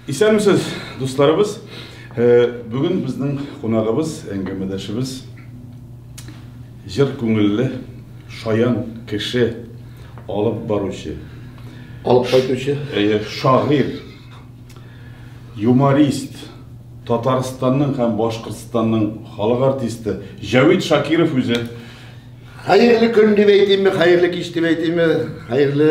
Исәнмесез, дусларыбыз. Бүген безнең кунагыбыз, әңгәмәдәшебез җыр күңелле, шаян кеше, алып баручы, алып кайтучы, шагыйрь, юморист, Татарстанның һәм Башкортстанның халык артисты Җәвит Шакиров үзе. Хәерле көн дип әйтимме, хәерле кич дип әйтимме, хәерле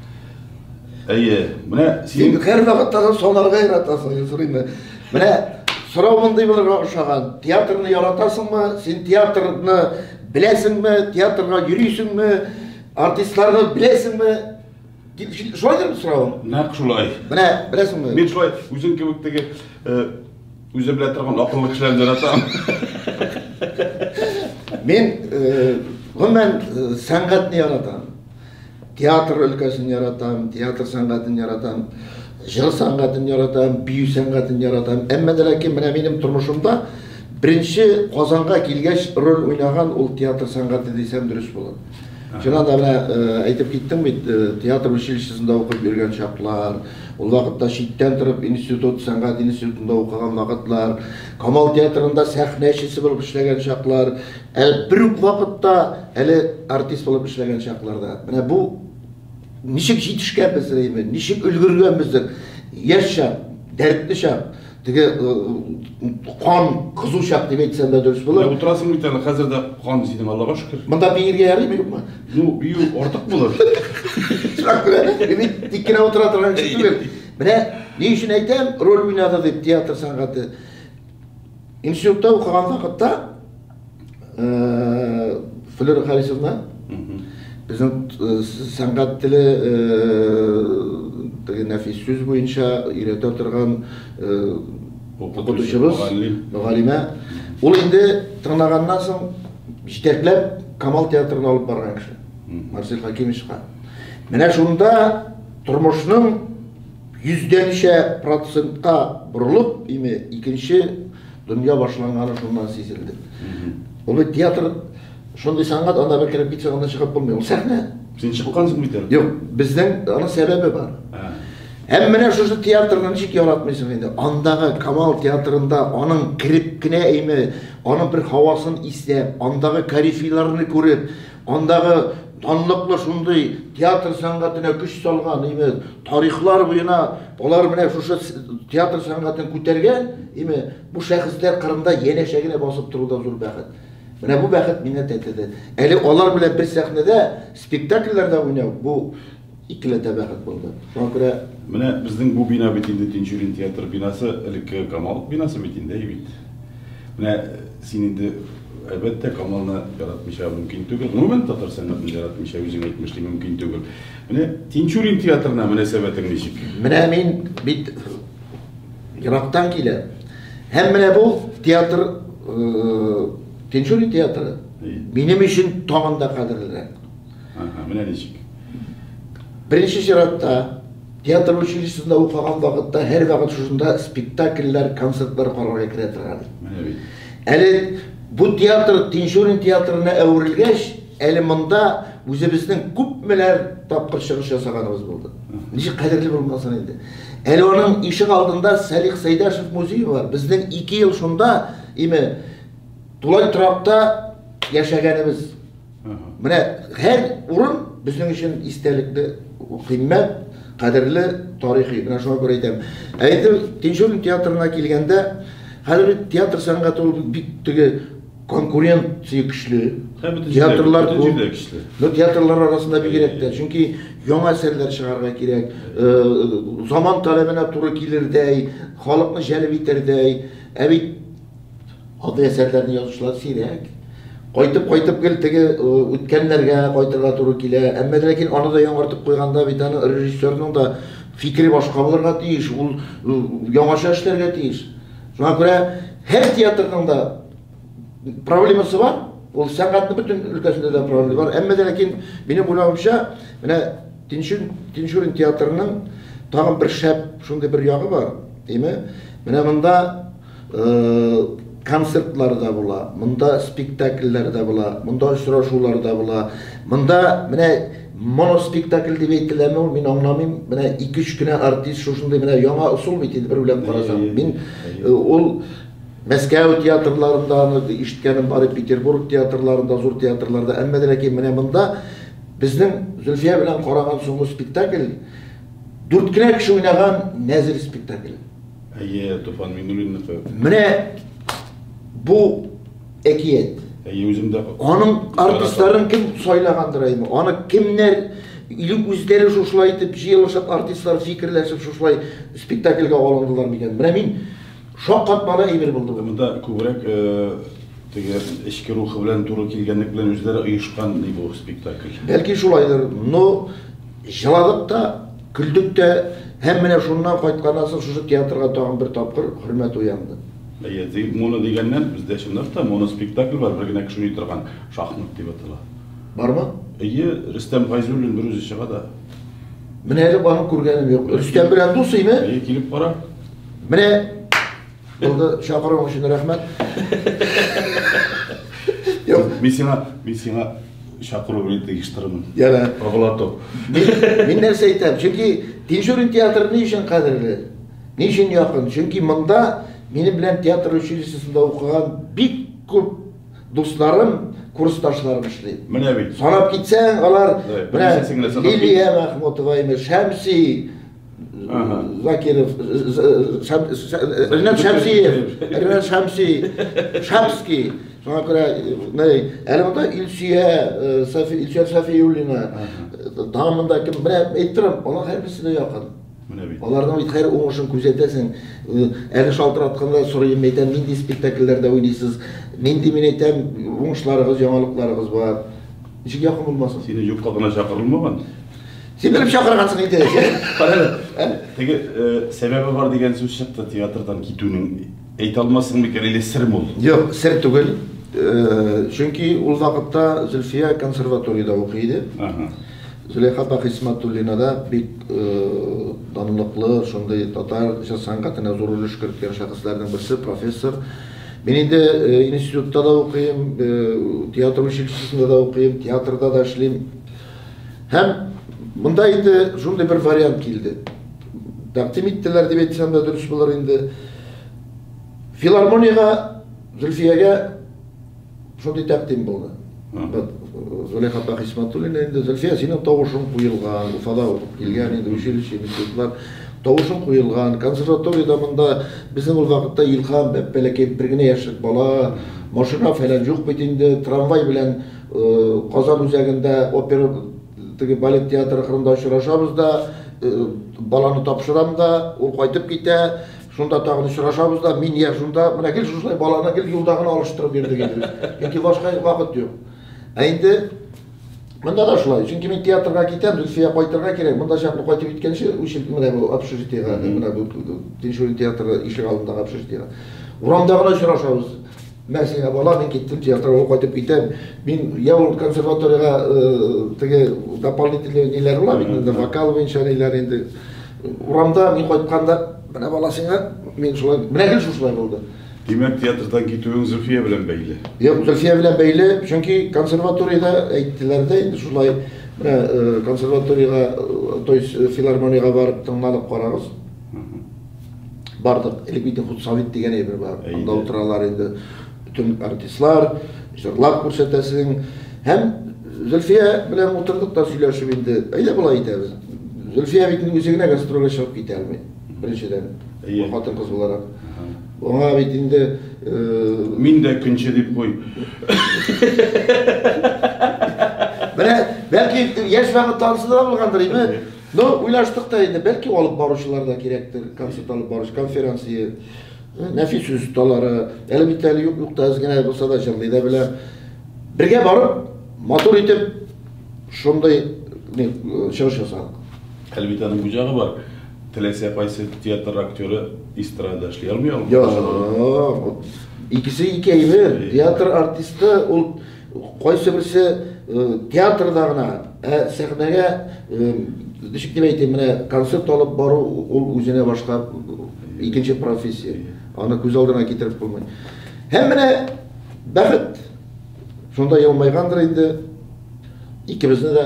Әйе, менә син һәр вакытта да санарга яратасың, сорыйм. Менә сорау мондый булырга ошаган. Театрны яратасыңмы? Син театрны беләсеңме? Театрга йөрисеңме? Артистларны беләсеңме? Дип шулайдыр сорауым. Нәкъ шулай. Менә беләсеңме? Мин шулай үзең кебек теге э, үзе белә торган акыллы кешеләрне яратам. Мин э, гомумән э, сәнгатьне яратам. Театр өлкәсен яратам, театр сәнгатен яратам, җыр сәнгатен яратам, бию сәнгатен яратам. Әмма дә ләкин менә минем тормышымда беренче Казанга килгәч роль уйнаган ул театр сәнгате дисәм дөрес булыр. Чыннан да менә э, әйтеп киттем бит, э, театр училищесында укып йөргән чаклар, ул вакытта читтән торып институт, сәнгать институтында укыган вакытлар, Камал театрында сәхнәчесе булып эшләгән чаклар, Әле бер үк вакытта, әле артист булып эшләгән чакларда. Менә бу ничек җитешкәнбез әйме, ничек өлгергәнбездер. Яшь чак, дәртле чак, теге э, кан кызу чак дип әйтсәм дә дөрес булыр. Утырасың бит әле, хәзер дә кан синең, Аллага шөкер. Монда биергә ярыймы юкмы? Ну, бию артык булыр. Чак белән, бит тик кенә утыра торган кеше түгел. Менә ни өчен әйтәм, роль уйнады дип театр сәнгате. Институтта укыган вакытта э, Флера Харисовна безнең э, сәнгать теле теге э, нәфис сүз буенча өйрәтә торган укытучыбыз, мөгаллимә. Ул инде тырнаганнан соң җитәкләп Камал театрына алып барган кеше. Марсель Хакимовичка. Менә шунда тормышның Йөздәнчә процентка борылып, име, икенче дөнья башланганы шуннан сизелде. Ул бит театр шундый сәнгать, анда бер кереп китсәң, аннан чыгып булмый. Ул сәхнә. Син чыккансың бит әле. Юк, безнең аның сәбәбе бар. Һәм менә шушы театрны ничек яратмыйсың инде? Андагы Камал театрында аның кереп кенә име, аның бер һавасын иснәп, андагы корифейларны күреп, андагы Данлыклы шундый театр сәнгатенә көч салган, име, тарихлар буена алар менә шушы театр сәнгатен күтәргән, име, бу шәхесләр кырында янәшә генә басып тору да зур бәхет. Менә бу бәхет миңа тәтеде. Әле алар белән бер сәхнәдә спектакльләрдә уйнау, бу Икеләтә бәхет булды. Шуңа күрә. Менә безнең бу бина бит инде Тинчурин театры бинасы, элеккеге Камал бинасы бит инде, әй бит. Менә син инде, әлбәттә, Камалны яратмыйча мөмкин түгел. Гомумән, татар сәнгатен яратмыйча үзең әйтмешли мөмкин түгел. Менә Тинчурин театрына мөнәсәбәтең ничек? Менә мин бит ерактан киләм. Һәм менә бу театр, Тинчурин театры минем өчен тагын да кадерлерәк. Ага, менә ничек. Беренче чиратта театр училищесында укыган вакытта һәр вакыт шушында спектакльләр, концертлар карарга керә торган. Менә бит. Әле бу театр Тинчурин театрына әверелгәч, әле монда үзебезнең күпмеләр тапкыр чыгыш ясаганыбыз булды. Ничек кадерле булмасын инде. Әле аның ишек алдында Салих Сәйдәшев музее бар. Безнең 2 ел шунда име тулай торакта яшәгәнебез. Менә һәр урын безнең өчен истәлекле, кыйммәт, кадерле, тарихи. Менә шуңа күрә әйтәм. Ә инде Тинчурин театрына килгәндә, хәзер бит театр сәнгате ул бик теге конкуренция көчле. Театрлар күп. Но театрлар арасында бигрәк тә, чөнки яңа әсәрләр чыгарга кирәк. Заман таләбенә туры килердәй, халыкны җәлеп итәрдәй. Ә бит Андый әсәрләрне язучылар сирәк. Кайтып-кайтып гел теге э, үткәннәргә кайтырга туры килә. Әмма ләкин аны да яңартып куйганда бит аны режиссерның да фикере башка булырга тиеш, ул э, яңача эшләргә тиеш. Шуңа күрә һәр театрның да проблемасы бар. Ул сәнгатьнең бөтен өлкәсендә дә проблема бар. Әмма ләкин минем уйлавымча, менә Тинчурин, Тинчурин театрының тагын бер шәп шундый бер ягы бар. Әйме? Менә монда концертлар да була, монда спектакльләр дә була, монда очрашулар да була. Монда менә моноспектакль дип әйтеләме ул, мин аңламыйм. Менә 2-3 кенә артист шушындый менә яңа ысул бит инде бер уйлап карасаң. Мин э, ул Мәскәү театрларында аны ишеткәнем бар, Петербург театрларында, зур театрларда, әмма ләкин менә монда безнең Зөлфия белән караган соңгы спектакль дүрт кенә кеше уйнаган нәзер спектакль. Әйе, Туфан Миңнуллинныкы. Менә бу әкият. Әйе, үзем дә. Аның артистларын кем сайлагандыр әйме? Аны кемнәр или үзләре шушылай итеп җыелышып артистлар фикерләшеп шушылай спектакльгә алындылар микән? Менә мин шаккатмалы әйбер булды бу. Монда күбрәк э, теге эчке рухы белән туры килгәнлек белән үзләре оешкан бу спектакль. Бәлки шулайдыр. Но җыладык та Көлдек тә, һәм менә шуннан кайтканнан соң шушы театрга тагын бер тапкыр хөрмәт уянды. Әйе, ди, моно дигәннән, бездә чынлап та моноспектакль бар, бер генә кеше уйный торган, Шахмат дип атала. Бармы? Әйе, Рөстәм Гайзуллин берүзе чыга да. Менә әле аны күргәнем юк. Рөстәм белән дус име? Әйе, килеп кара. Менә! Булды, чакыруың өчен рәхмәт. Мин сиңа, мин сиңа чакыру белән тегештырмын. Яна. Оглату. Мин нәрсә әйтәм? Чөнки Тинчурин театры ни өчен кадерле? Ни өчен якын? Чөнки монда минем белән театр училищесында укыган бик күп дусларым, курсташларым эшли. Менә бит. Санап китсәң, алар менә Лилия Мәхмүтова, Шәмси, Закиров, Ринат Шәмсиев, Ринат Шәмси, Шамский, соңа күрә, әле монда Илсөя, Илсөя Сафиуллина, тагын монда кем, менә әйттерәм, алар һәрберсе дә якын. Аларның бит хәр уңышын күзәтәсең. Әле шалтыратканда сорыйм, әйтәм, нинди спектакльләрдә уйныйсыз? Нинди мин әйтәм, уңышларыгыз, яңалыкларыгыз бар? Ничек якын булмасын? Сине юкка гына чакырылмаган. Син белеп чакыргансың инде. Карале. Теге сәбәбе бар дигән сүз чыкты театрдан китүнең. Әйтә алмассың микән или сер мул? Юк, сер түгел. Чөнки ул вакытта Зөлфия консерваториядә укый иде. Зөләйха апа Хисмәтуллина да бик данлыклы, шундый татар җыр сәнгатенә зур өлеш керткән шәхесләрнең берсе, профессор. Мин инде институтта да укыйм, театр училищесында да укыйм, театрда да эшлим. Һәм монда инде шундый бер вариант килде. Тәкъдим иттеләр дип әйтсәм дә дөрес булыр инде. Филармониягә Зөлфиягә шундый тәкъдим булды. Зөләйха апа Хисматуллина инде Зөлфия синең тавышың куелган, Уфада укып килгән инде училище институтлар тавышың куелган, консерваториядә монда безнең ул вакытта Илһам бәпбәләкәй бер генә яшьлек бала, машина фәлән юк бит инде, трамвай белән Казан үзәгендә опера теге балет театры кырында очрашабыз да, баланы тапшырам да, ул кайтып китә, шунда тагын очрашабыз да, мин я шунда, менә гел шушылай баланы гел юлда гына алыштырып йөрдек инде. Чөнки башка вакыт юк. Ә инде монда да шулай. Чөнки мин театрга китәм, Зөлфия кайтырга кирәк. Монда чакны кайтып киткәнче, үчеп менә бу общежитиегә, менә бу Тинчурин театры ишек алдындагы общежитиегә. Урамда гына очрашабыз. Мә сиңа бала, мин киттем театрга, ул кайтып китә. Мин я ул консерваториягә теге дополнительный ниләр була бит инде, вокал буенча ниләр инде. Урамда мин кайтканда, менә бала сиңа, мин шулай, менә гел шушылай булды. Димәк, театрдан китүең Зөлфия белән бәйле. Юк, Зөлфия белән бәйле, чөнки консерваториядә әйттеләр дә инде шулай, менә консерваториягә, то есть филармониягә барып тыңланып карагыз. бардык элек бит худсовет дигән әйбер бар анда утыралар инде бөтен артистлар җырлап күрсәтәсең һәм зөлфия белән утырдык та сөйләшеп инде әйдә болай итәбез зөлфия бит инде үзе генә гастрольгә чыгып китә алмый беренчедән хатын кыз буларак аңа бит инде мин дә көнче дип куй менә бәлки яшь вакыт танысы да булгандыр име Но уйлаштык та инде, бәлки алып баручылар да кирәктер, концерт алып баручы, конференция, нәфис сүз осталары, әле бит әле юк юк та әз генә булса да җырлый да белә. Бергә барып, матур итеп шундый не, чыгыш ясадык. Әле бит аның буҗагы бар. Теләсә кайсы театр актеры эстрада эшли алмый алмый. Юк, икесе ике әйбер. Театр артисты ул Кайсы берсе театрда гына, ә сәхнәгә ничек дип әйтим, менә концерт алып бару ул үзенә башка икенче профессия. Аны күз алдына китереп булмый. Һәм менә бәхет шунда елмайгандыр инде. Икебезне дә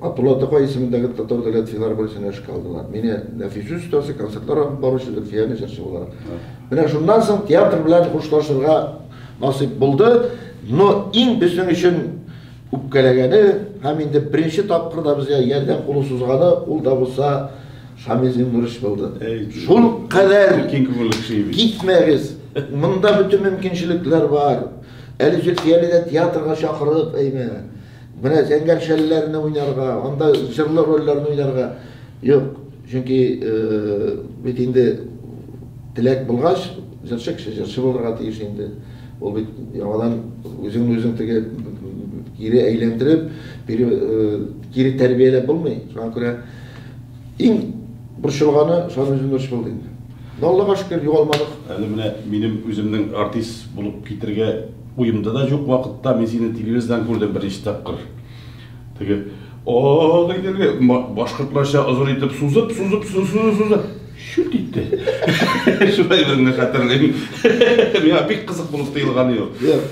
Абдулла Тукай исемендәге татар дәүләт филармониясенә эшкә алдылар. Мине нәфис остасы, концертлар алып баручы, Зөлфияне җырчы буларак. Менә шуннан соң театр белән хушлашырга насыйп булды, но иң безнең өчен үпкәләгәне һәм инде беренче тапкыр да безгә ярдәм кулын сузганы ул да булса Шамил Зиннурович булды. Шул кадәр китмәгез. Монда бөтен мөмкинчелекләр бар. Әле Зөлфияне дә театрга чакырып, әйме. Менә зәңгәр шәлләрне уйнарга, анда җырлы рольләрне уйнарга юк. Чөнки бит инде теләк булгач, җырчы кеше җырчы булырга тиеш инде. Ул бит яңадан үзеңне үзең теге кире әйләндереп, кире тәрбияләп булмый. Шуңа күрә иң борчылганы Шамил Зиннурович булды инде. Аллага шөкер, югалмадык. Әле менә минем үземнең артист булып китергә Уемда да җук вакытта мин сине телевиздан күрдем беренче тапкыр. Теге ак итеге башкортларча озын итеп сузып, сузып, сузып, сузып, шүт итте. Шулай гына хәтерлим. Миңа бик кызык булып тоелган иде. Юк.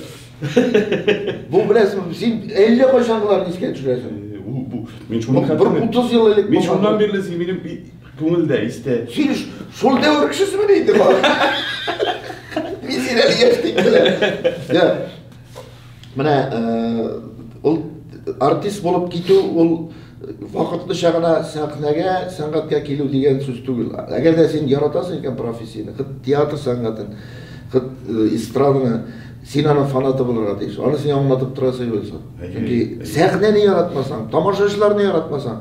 Бу белән син әллә кайчангыларны искә төшерәсең. Бу бу мин шуны хәтерлим. Бер 30 ел элек. Мин шуннан бирле син минем Күңел дә истә. Син шул дәвер кешесеме диде бала. Мин син әле яшь дип беләм. Менә ул артист булып китү ул вакытлыча гына сәхнәгә, сәнгатькә килү дигән сүз түгел. Әгәр дә син яратасың икән профессияне, хит театр сәнгатен, хит э, эстраданы, син аның фанаты булырга тиеш. Аны сиңа аңлатып тора Сыйбулсын. Чөнки сәхнәне яратмасаң, тамашачыларны яратмасаң,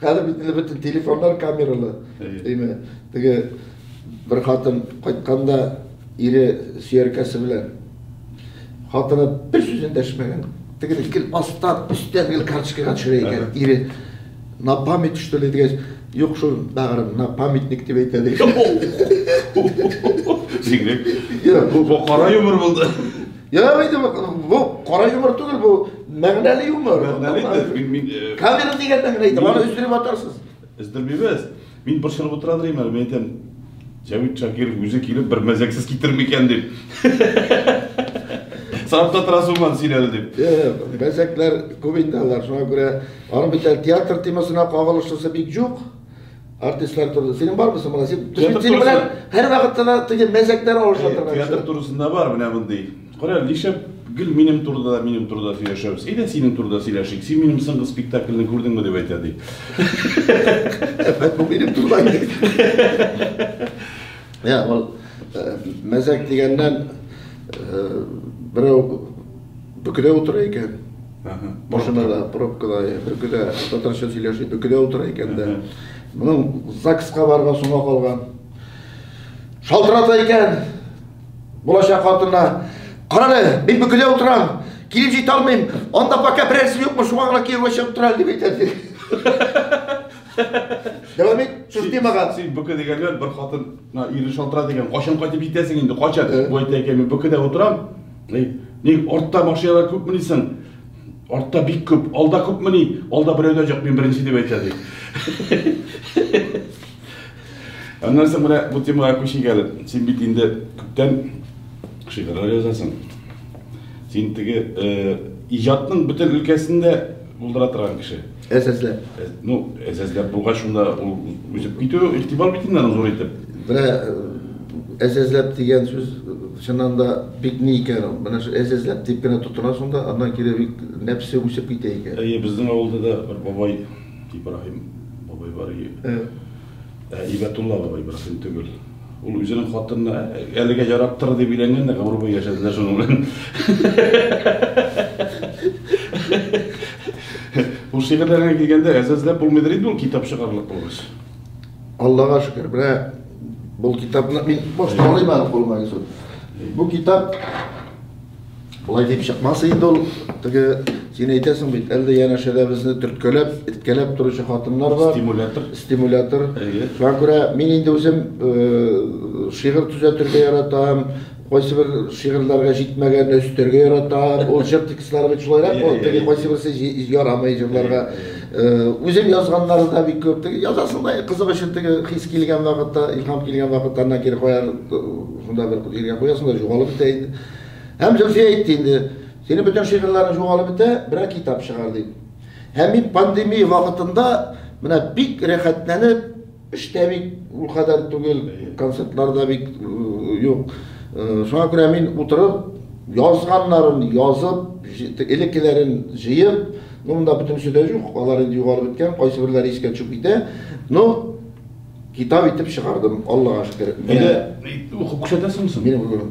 Хәзер бит инде бөтен телефоннар камералы. Әйе. Теге бер хатын кайтканда ире сөяркәсе белән хатыны бер сүз эндәшмәгән. Тегеле гел аста, өстә гел карточкага төшерә икән. Ире на память что ли дигәч, юк шул бәгырем, на памятник дип әйтә ди. Бигрәк. Бу кара юмор булды. Ярый инде бу кара юмор түгел бу. Мәгънәле юмор. Мәгънәле дә, мин мин э, Камера дигән мәгънә әйтә, аны өздереп атарсыз. Өздермибез. Мин борчылып утыра дирем әле, мин әйтәм, Җәвит Шакиров үзе килеп бер мәзәксез китерми икән дип. Сафта трасуман син әле дип. Э, Мәзәкләр күп инде алар, шуңа күрә аның бит әле театр темасына кагылышлысы бик юк. Артистлар турында. Синең бармы соң Син Театр синең белән һәрвакытта да теге мәзәкләр алышып торган. Театр турысында бар менә мондый. Кара, нишләп гел минем турыда да минем турыда сөйләшәбез. Әйдә синең турыда сөйләшик. Син минем соңгы спектакльне күрдеңме дип әйтә ди. Әфәт бу минем турыда. Я, ул мәзәк дигәннән берәү Бөкедә утыра икән. Ага. Машинада, пробкада, бөкедә, татарча сөйләши, бөкедә утыра икән дә. Моның ЗАГСка барырга соңга калган. Шалтырата икән. Булачак хатына. Карале, мин бөкедә утырам. Килеп җитә алмыйм. Анда пока берәрсе юкмы, шуңа гына кияүгә чыгып тора әле дип әйтәсе. Дәвам ит, сүзне мага. Син бөке дигәннәр бер хатынга ире шалтыра дигән. Качан кайтып җитәсең инде? Качан? Бу әйтә икән, мин бөкедә утырам. Ник, ник артта машиналар күпме дисең? Артта бик күп, алда күпме ни? Алда берәү дә юк, мин беренче дип әйтә ди. Аннан соң менә бу темага күчик әле. Син бит инде күптән шигырьләр язасың. Син теге э, иҗатның бөтен өлкәсендә булдыра торган кеше. Әзәзләп. Э, ну, әзәзләп булгач, шунда ул үсеп китү игътибар бит инде зур итеп. Менә э, әзәзләп дигән сүз чыннан да бик ни икән ул. Менә шул әзәзләп дип кенә тотына шунда, аннан кире бик нәпсе үсеп китә икән. Әйе, безнең авылда да бер бабай Ибраһим бабай бар иде. Э. Ә Ибәтулла бабай берсен түгел. Ул үзенең хатынына әлегә яраттыр дип өйләнгән дә гомер буе яшәделәр шуның белән. Ул шигырьләргә килгәндә әзәзләп булмыйдыр инде ул китап чыгарлык булгач. Аллага шөкер, менә бу китапны мин башта алыйм әле кулыма Йосыф. Бу китап Болай дип чыкмас инде ул. Теге син әйтәсең бит, әле янәшәдә безне төрткәләп, эткәләп торучы хатыннар бар. Стимулятор. Стимулятор. Шуңа күрә мин инде үзем э, шигырь төзәтергә яратам, кайсы бер шигырьләргә җитмәгән өстәргә ярата. Ул җыр текстлары бит шулайрак, ул теге кайсы берсе ярамый җырларга. Үзем язганнары да бик күп. Теге язасың да кызык өчен теге хис килгән вакытта, илһам килгән вакытта ана кире куяр, шунда бер җиргә куясың да югалып бетә инде. Һәм Зөлфия әйтте инде, синең бөтен шигырьләрең җугалып бетә, берәр китап чыгар, дип. Һәм мин пандемия вакытында менә бик рәхәтләнеп, эштә бик ул кадәр түгел, концертлар да бик юк. Шуңа күрә мин утырып, язганнарын язып, элеккеләрен җыеп, ну, монда бөтенесе дә юк, алар инде югалып беткән, кайсыберләре искә төшеп китә. Ну, китап итеп чыгардым, Аллага шөкер. Әйдә, укып күрсәтәсеңме соң? Мин укып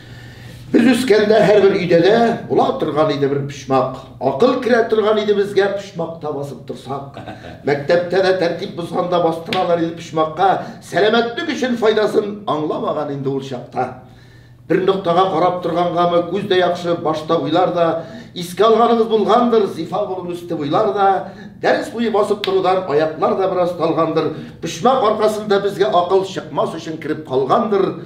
Без үскәндә һәрбер өйдә дә була торган иде бер почмак. Акыл керә торган иде безгә почмакта басып торсак. Мәктәптә дә тәртип бозганда бастыралар иде почмакка. Сәламәтлек өчен файдасын аңламаган инде ул чакта. Бер ноктага карап торгангамы, күз дә яхшы, башта уйлар да, искә алганыгыз булгандыр, зифа булып үсте буйлар да, дәрес буе басып торудан аяклар да бераз талгандыр, почмак аркасында безгә акыл чыкмас өчен кереп калгандыр.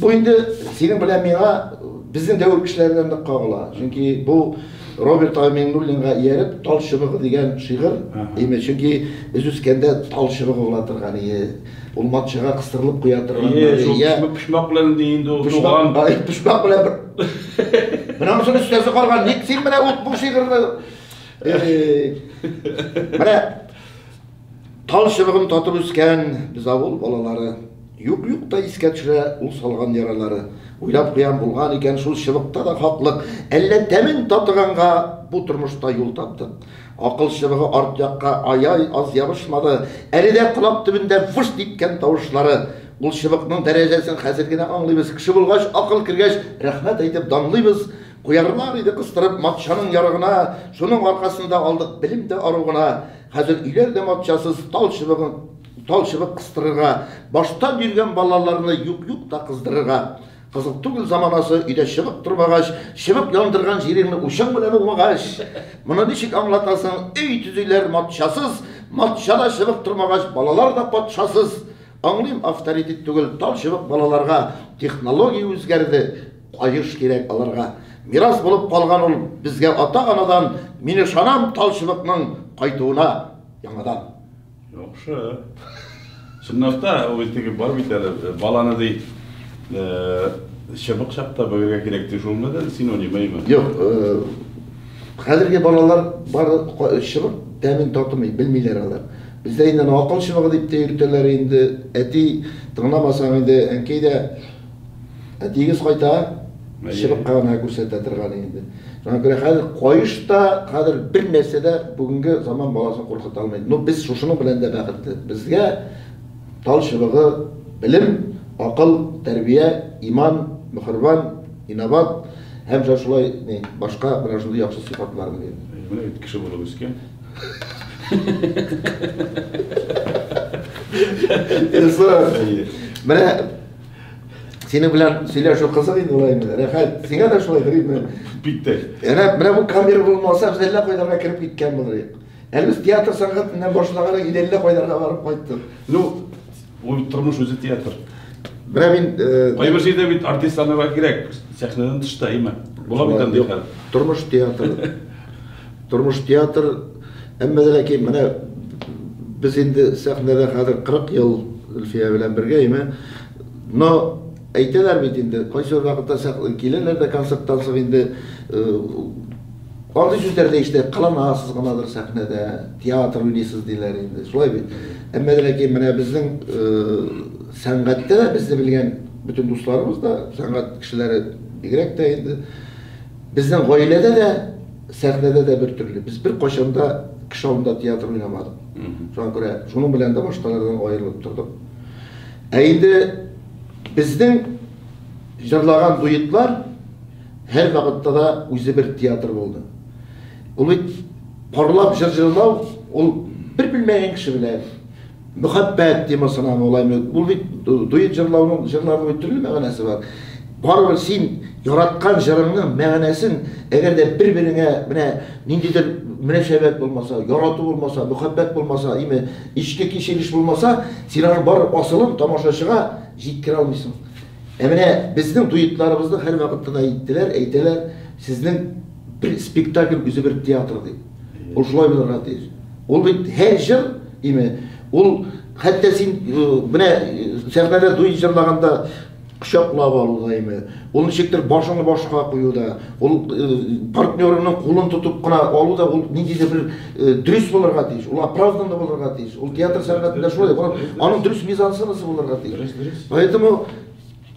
Бу инде синең белән миңа безнең дәвер кешеләренә нык кагыла. Чөнки бу Роберт Аминуллинга ияреп Тал чыбыгы дигән шигырь име. Чөнки без үскәндә тал чыбыгы була торган иде. Ул матчага кыстырылып куя торган иде. Йә, шул почмак белән ди инде ул туган. Почмак белән бер. Менә мосын өстәсе карган. Ник син менә ут бу шигырьне? Менә Тал чыбыгын татып үскән без авыл балалары. Юк-юк та искә төшә ул салган яралары. Уйлап куям, булган икән шул чыбыкта да хаклык. Әллә тәмен татыганга бу тормышта юл таптык. Акыл чыбыгы арт якка ай-ай аз ябышмады. Әле дә колак төбендә выж диткән тавышлары. Ул чыбыкның дәрәҗәсен хәзер генә аңлыйбыз. Кеше булгач, акыл кергәч, рәхмәт әйтеп данлыйбыз. Куярлар иде кыстырып матчаның ярыгына, шуның аркасында алдык белем дә ару гына. Хәзер өйләр дә матчасыз, тал чыбыгын тал чыбык кыстырырга, башта биргән балаларны юк-юк та кыздырырга. Кызыл түгел заманасы, өйдә чыбык тормагач, чыбык яндырган җиреңне учың белән уңмагач, моны ничек аңлатасың, өй төзиләр матчасыз, матчада чыбык тормагач, балалар да патшасыз. Аңлыйм, авторитет түгел, тал чыбык балаларга, технология үзгәрде, Каеш кирәк аларга. Мирас булып калган ул безгә ата-анадан, мин ышанам талчыбыкның кайтуына яңадан. Яхшы. Чынлап та, ул теге бар бит әле, э, баланы ди, э, чыбык чакта бөгергә кирәк ди, шулмы да синонимаймы? Юк, э, хәзерге балалар бары ка- чыбык тәмен татымый, белмиләр алар. Бездә инде аны акыл чыбыгы дип тә йөртәләр инде. Әти тыңламасаң инде, әнкәй дә Ә тигез кайта, чыбыкка гына күрсәтә торган инде. Шуңа күрә хәзер каеш та, хәзер бер нәрсә дә бүгенге заман баласын куркыта алмый. Ну, без шушының белән дә бәхетле. Безгә тал чыбыгы белем, акыл, тәрбия, иман, мөхербан, инабат һәм җа шулай ни, башка менә шундый яхшы сыйфатларны бирә. Менә бит кеше булып үскән. Эсэ. Менә Синең белән сөйләшү кызык инде улай инде. Рәхәт. Сиңа да шулай дөресме? Бик тә. Әнә менә бу камера булмаса, без әллә кайларга кереп киткән булыр идек. Әле без театр сәнгатеннән башлаган инде әллә кайларга барып кайттык. Ну, ул тормыш үзе театр. Менә мин э, кайбер җирдә бит артистларга кирәк, сәхнәдән тышта имә. Була бит андый хәл. Тормыш театры. Тормыш театр, әмма дә ләкин менә без инде сәхнәдә хәзер 40 ел Өлфия белән бергә име. Но әйтәләр бит инде, кайсы бер вакытта сәхнә киләләр дә концерттан соң инде андый сүзләр дә ишетә, кыланасыз гынадыр сәхнәдә, театр уйныйсыз диләр инде. Шулай бит. Әмма дә ләкин менә безнең сәнгатьтә дә безне белгән бөтен дусларыбыз да, сәнгать кешеләре бигрәк тә инде, Безнең гаиләдә дә, сәхнәдә дә бер төрле. Без беркайчан да кеше алдында театр уйнамадык. Шуңа күрә шуның белән дә башталардан аерылып тордык. Ә инде безнең җырлаган дуэтлар һәрвакытта да үзе бер театр булды. Ул бит парлап җыр җырлау, ул бер белмәгән кеше белән, Мөхәббәт темасына мулаем итеп, ул бит дуэт җырлауның, җырларның бит төрле мәгънәсе бар. Барыбер син яраткан җырыңның мәгънәсен, әгәр дә бер-береңә менә ниндидер мөнәсәбәт булмаса, ярату булмаса, мөхәббәт булмаса, име ичке кичереш булмаса, син аның бар асылын тамашачыга җиткерә алмыйсың. Ә менә безнең дуэтларыбызны һәрвакыт кына әйттеләр, әйтәләр, сезнең бер спектакль үзе бер театр дип. Ул шулай булырга тиеш. Ул бит һәр җыр, име, ул хәтта син э, менә э, сәхнәдә дуй җырлаганда кочаклап алуда име, ул ничектер башыңны башка куюда, ул э, партнерыңның кулын тотып кына алуда ул ниндидер бер э, дөрес булырга тиеш, ул оправданно булырга тиеш. Ул театр сәнгатендә шулай, аның дөрес мизансценасы булырга тиеш. Поэтому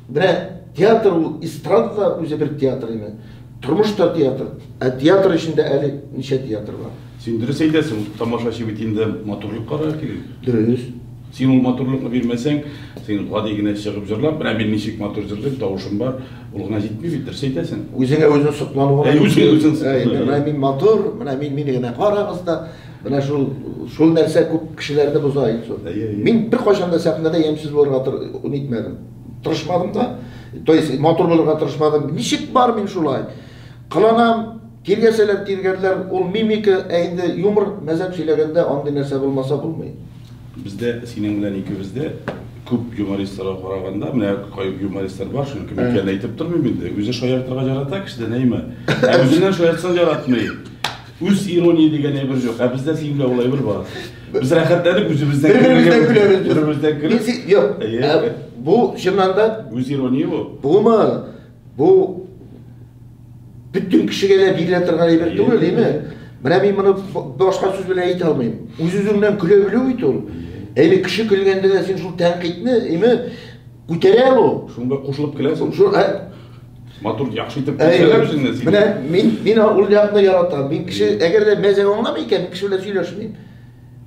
Менә театр ул эстрада да үзе бер театр име? Тормыш та театр. Ә театр эчендә әле ничә театр бар? Син дөрес әйтәсең, тамашачы бит инде матурлык карар кирәк. Дөрес. Син ул матурлыкны бирмәсәң, син гади генә чыгып җырлап, менә мин ничек матур җырлыйм, тавышым бар, ул гына җитми бит, дөрес әйтәсең. Үзеңә үзең соклану гына. Әй, үзеңә үзең соклану. Әй, менә мин матур, менә мин, мине генә карагыз да. Менә шул шул нәрсә күп кешеләрне боза Илсур. Мин беркайчан да сәхнәдә ямьсез булырга нитмәдем. Тырышмадым да. То есть матур булырга тырышмадым. Ничек бар мин шулай. Кыланам, тиргәсәләр тиргәрләр, ул мимика, ә инде юмор, мәзәк сөйләгәндә андый нәрсә булмаса булмый. Бездә синең белән икебездә күп юмористларга караганда, менә кай юмористлар бар, шуның кем икәнен әйтеп тормыйм инде. Үзе шаяртырга ярата кешедән әйме. Ә үзеннән шаяртсаң яратмый. Үз ирония дигән әйбер җук, ә бездә сиңдә ул әйбер бар. Без рәхәтләнеп үзебездән Бер-беребездән көләбез без. Бер-беребездән Мин көлеп. си- Юк. Әйе. Ә Бу чыннан да Үз ирония бу. бумы, бу бөтен кешегә дә бирелә торган әйбер Әйе, түгел, әйе. дими. Менә мин моны б- башка сүз белән әйтә алмыйм. Үз-үзеңнән көлә белү бит ул. Әйе, кеше көлгәндә дә син шул тәнкыйтьне, әйме, күтәрә ул. Шунда кушылып көләсең. Шул, ә, Матур, яхшы итеп күрсәләр үзеңне син. Менә мин мин ул якны яратам. Мин кеше, әгәр дә мәзәк аңламый икән, кеше белән сөйләшмим.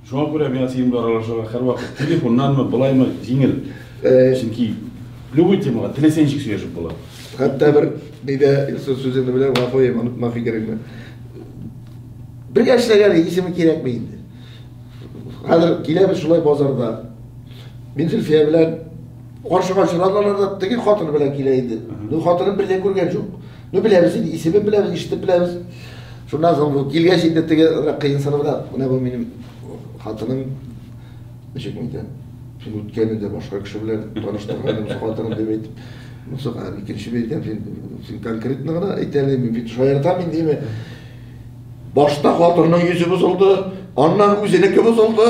Шуңа күрә миңа синең белән аралашырга һәрвакыт телефоннанмы, былаймы җиңел. Чөнки любой темага теләсә ничек сөйләшеп була. Хәтта бер нидә сүзеңне белән гафу ем, онытма фикереңне. Бергә эшләгән исеме кирәкме инде? Хәзер киләбез шулай базарда. Мин Зөлфия белән Каршыга очрадылар да, теге хатыны белән килә инде. Ну, хатынын бер дә күргән юк. Ну, беләбез инде, исемен беләбез, ишетеп беләбез. Шуннан соң бу килгәч инде теге кыенсынып да, менә бу минем хатыным, ничек әйтәм, син үткәнендә башка кеше белән таныштырган хатыным дип әйтеп, Мусак, а икенче бейтәм, син, син конкретно гына әйтәле, мин бит шаяртам мин диме? Башта хатынның йөзе бозылды, аннан үзенеке бозылды.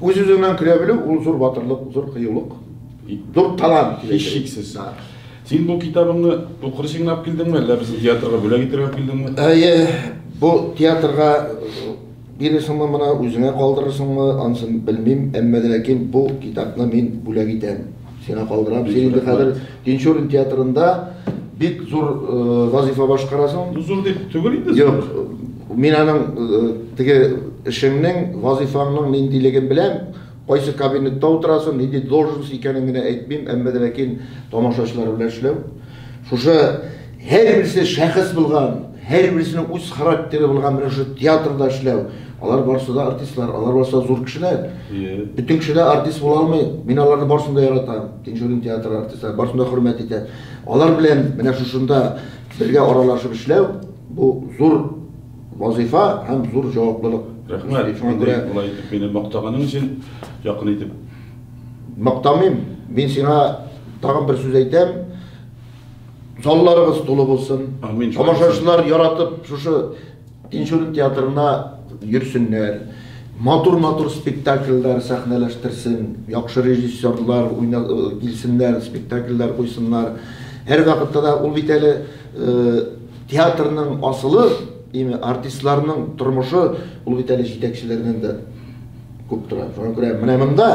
Үз-үзеңнән көлә белү, ул зур батырлык, зур кыюлык, зур талант, һичшиксез. Син бу китабыңны укыр өчен генә алып килдеңме, әллә безнең театрга бүләк итәргә алып килдеңме? Әйе, бу театрга бирерсеңме моны, үзеңә калдырырсыңмы, анысын белмим, әмма ләкин бу китапны мин бүләк итәм. Сиңа калдырам. Син инде хәзер Тинчурин театрында бик зур вазифа башкарасың. Ну зур дип түгел инде. Юк. Мин аның теге эшеңнең, вазифаңның ниндилеген беләм. Кайсы кабинетта утырасың, нинди должность икәнен генә әйтмим, әмма дә ләкин тамашачылар белән эшләү. Шушы Һәрберсе шәхес булган, һәрберсенең үз характеры булган менә шул театрда эшләү. Алар барысы да артистлар, алар барысы да зур кешеләр. Бөтен кеше дә артист була алмый. Мин аларны барысын да яратам. Тинчурин театры артистлары барысын да хөрмәт итәм. Алар белән менә шушында бергә аралашып эшләү, бу зур вазыйфа һәм зур җаваплылык. Рәхмәт. Шуңа күрә болай итеп мине мактаганың өчен, якын итеп. Мактамыйм. Мин сиңа тагын бер сүз әйтәм. залларыгыз тулы булсын. Амин. Тамашачылар яратып шушы Тинчурин театрына йөрсеннәр. Матур-матур спектакльләр сәхнәләштерсен, яхшы режиссерлар уйна килсеннәр, спектакльләр куйсыннар. Һәрвакытта да ул бит әле театрның асылы, дими, артистларның тормышы ул бит әле җитәкчеләрдән дә күп тора. Шуңа күрә менә монда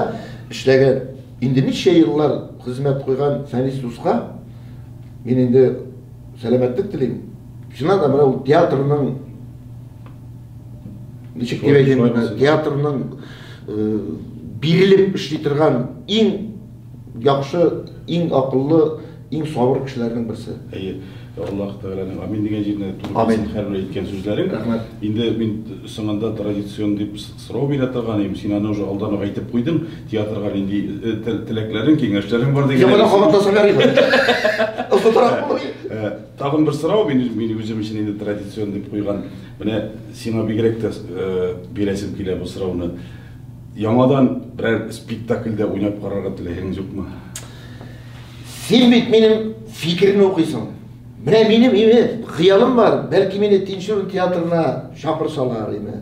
эшләгән Инде ничә еллар хезмәт куйган Фәнис дуска мин инде сәламәтлек телим. Чыннан да, менә ул театрның, ничек дип әйтим моны, театрның бирелеп эшли торган иң яхшы, иң акыллы, иң сабыр кешеләрнең берсе. Әйе, Аллаһ Тәгаләнең Амин дигән җиренә туры килсен һәрбер әйткән сүзләрең. Рәхмәт. Инде мин соңында традицион дип Сорау бирә торган идем, син аны уже алдан ук әйтеп куйдың, театрга нинди теләкләрең, киңәшләрең бар дигән. Яңадан кабатласам ярый бит. Ысытырак булыр. Тагын бер сорау, мин мин үзем өчен инде традицион дип куйган. Менә сиңа бигрәк тә бирәсем килә бу сорауны. Яңадан берәр спектакльдә уйнап карарга теләгең юкмы? Син бит минем фикерне укыйсың. Менә минем имеш, хыялым бар, бәлки мине Тинчурин театрына чакырсалар, име.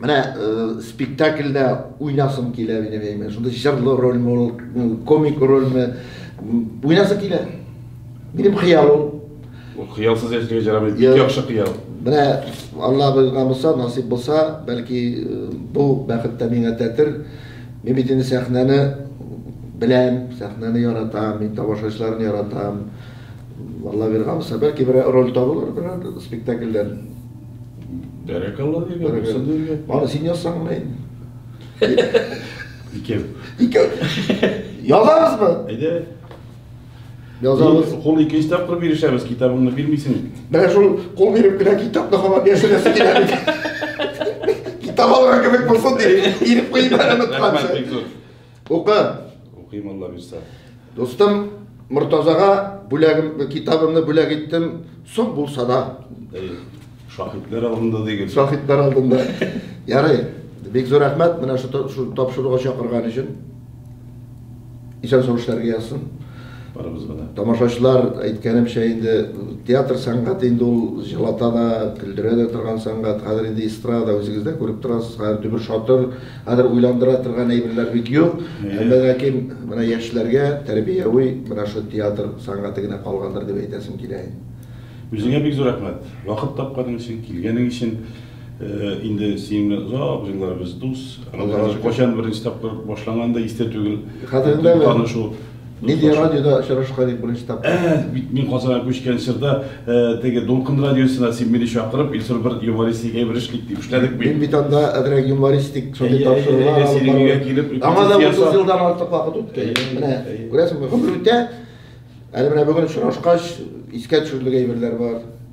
Менә э, спектакльдә уйнасым килә минем әйме. Шунда җырлы рольме ул, комик рольме? Уйнасым килә. Минем хыял ул. Ул хыялсыз яшәргә җарамый. Бик яхшы хыял. Менә Алла булган булса, насыйп булса, бәлки э, бу бәхет тә миңа тәтер. Мин бит инде сәхнәне беләм, сәхнәне яратам, мин тамашачыларны яратам. Алла биргән булса, бәлки бер роль табылыр, бер спектакльдән. Бәрәкалла дигән, Бәрәкалла. бусы дигән. Аны син язсаң гына инде. Икәү. Икәү. Язабызмы? Әйдә. Язабыз. Кул ике өч тапкыр бирешәбез, китабыңны бирмисең. Менә шул кул биреп кенә китапны һаман яшерәсе килә бит. Китап алган кебек булсын дип, ирек куеп әле Рәхмәт, бик зур. Укы! Укыйм, Алла бирсә. Дустым, Мортазага бүләгем, китабымны бүләк иттем, соң булса да. Әй, шаһитләр алдында дигел. Шаһитләр алдында. Ярый. Бик зур рәхмәт менә шу тапшыруга чакырган өчен. Исән сау эшләргә язсын. Барыбызга да. Тамашачылар әйткәнемчә инде театр сәнгате инде ул җылата да, көлдерә дә торган сәнгать. Хәзер инде эстрада үзегез дә күреп торасыз. Хәзер дөбер-шатыр Хәзер уйландыра торган әйберләр бик юк. Әмма ләкин менә яшьләргә тәрбияви менә шул театр сәнгате генә калгандыр дип әйтәсем килә инде. Үзеңә бик зур рәхмәт. Вакыт тапканың өчен, килгәнең өчен. Инде синең белән озак еллар без дус. Кайчан беренче тапкыр башланганы да истә түгел. Хәзер инде танышу. Милли радиода очрашка дип беренче тапкыр. Ә, бит мин Казанга күчкән чорда э, теге Дулкын радиосына син мине чакырып, Илсур бер юмористик әйбер эшлик дип эшләдек бит. Мин бит анда әзрәк юмористик шундый тапшырулар алып барам. Аңа да 30 елдан артык вакыт үтте. Менә күрәсеңме, гомер үтә. Әле менә бүген очрашкач, искә төшерлек әйберләр бар.